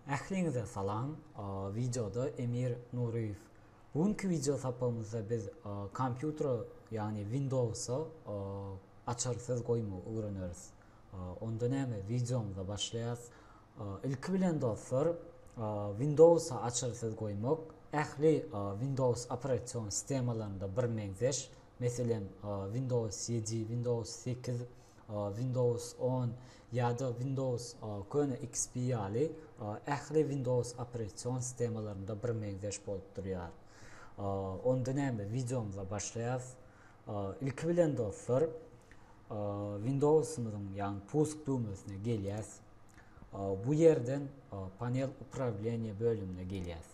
Ähliňize salam! Wideoda Emir Nuryýew. Bu günki wideo sapagymyzda biz kompýutera, ýagny Windowsa açarsyz goýmagy öwreneris. Onda näme, wideomyza başlaýarys. Ilki bilen dostlar, Windowsa açarsyz goýmak ähli Windows operasion sistemalarynda birmeňzeş, Meselem, Windows ýedi, Windows sekiz, Windows on ýa-da Windows köne XP ýaly ähli Windows operasion sistemalarynda birmeňzeş bolup durýar. Onda näme, wideomyza başlaýarys. Ilki bilen dostlar, Windowsymyzyň, ýagny pusk düwmesine gelýäs. Bu ýerden panel uprawilenýe bölümine gelýäs.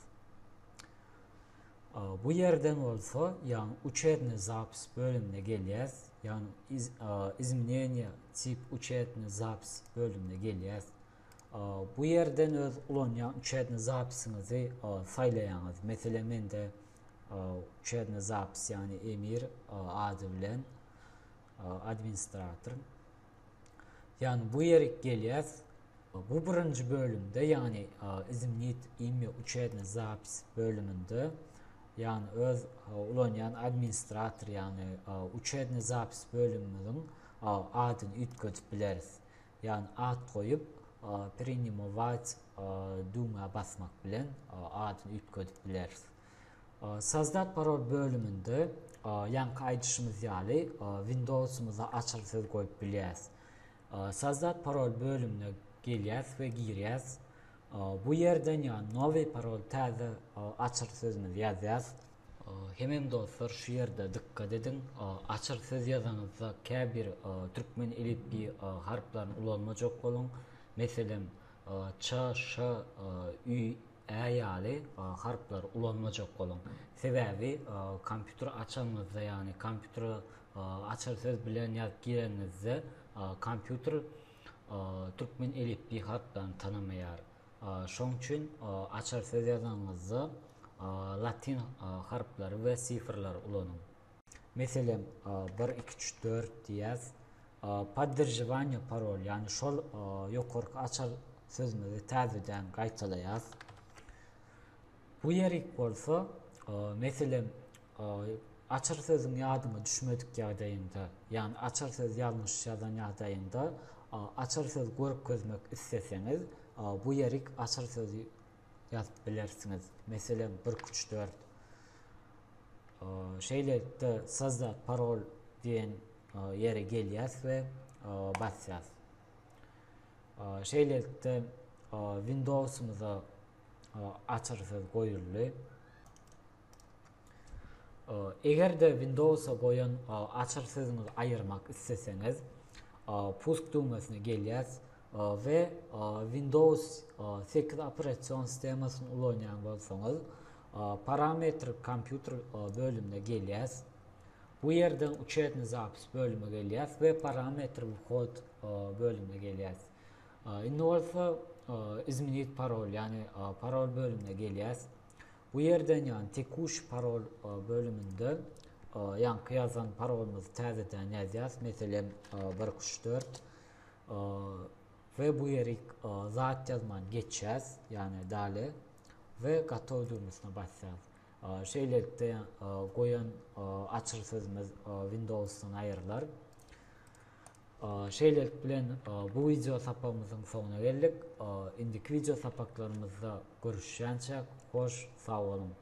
Bu ýerden bolsa ýagny uçetne zapis bölümine gelýäs. Ýagny iz, izmeneniýa tip uçetne zapis bölümine gelýäs. Bu ýerden öz ulanýan uçetne zapisiňizi saýlaýaňyz. Meselem mende uçetne zapis ýagny emir ady bilen administratoryň. Ýagny bu ýeri gelýäs. Bu birinji bölümde, ýagny izimnit imi uçedne zapis bölüminde, ýagny öz ulanýan administrator, ýagny uçedne zapis bölümimiziň adyny üýtgedip bileris. Ýagny ad goýup, prenimować düwmä basmak bilen adyny üýtgedip bileris. Sazda parol bölüminde ýaňky aýdyşymyz ýaly Windowsymyza açyl söz goýup bilýäs. Sazda parol bölümine gelýäs we girýäs. Bu ýerden ýa nowy parol täze açyl sözümizi ýazýas. Hemem dostlar şu ýerde dykgat ediň açyl söz ýazanyzda käbir türkmen elipbiý harplaryny ulanmajak boluň. Meselem ç, ş, ü. Ä ýaly harplary ulanmajak boluň. Sebäbi kompýuter açanyňyzda ýagny kompýutere açar söz bilen ýazyp gireniňizde kompýuter türkmen elipbiý harplaryny tanamaýar. Şoň üçin açar söz ýazanyňyzda latyn harplary we sifrleri ulanyň. Meselem, bir, iki, üç, dört diýýäs. Podderžowaniýe parol, ýagny şol ýokarky açar sözümizi täzeden gaýtalaýas. Bu ýerik bolsa, meselem, açar sözüň ýadyňa düşmedik ýagdaýynda, ýagny açar söz ýalňyş ýazan ýagdaýyňda, açar söz görkezmek isleseňiz, bu ýerik açar sözi ýazyp bilersiňiz. Meselem, birk üç dört. Şeýlelikde sazda parol diýen ýere gelýäs we basýas. Şeýlelikde Windowsymyza açarsyz goýuldy. Eger-de Windowsa goýan açarsyzyňyzy aýyrmak isleseňiz, pusk düwmesine gelýäs we Windows sekiz operasion sistemasyny ulanýan bolsaňyz, Parametrik kompýuter bölümine gelýäs. Bu ýerden Uçetny zapis bölümine gelýäs we Parametrik whod bölümine gelýäs. Indi bolsa Izmenit parol, ýagny parol bölümine gelýäs. Bu ýerden ýagny Tekuşi parol bölüminde ýaňky ýazan parolymyzy täzeden ýazýas, meselem, bir iki üç dört. we bu ýeri zat ýazman geçýäs, ýagny dale we gotow düwmesine basýas. Şeýlelikde goýan açyr sözümiz Windowsdan aýrylar. Şeýlelik bilen bu wideo sapagymyzyň soňuna geldik. Indiki wideo sapaklarymyzda görüşýänçäk, hoş sag boluň!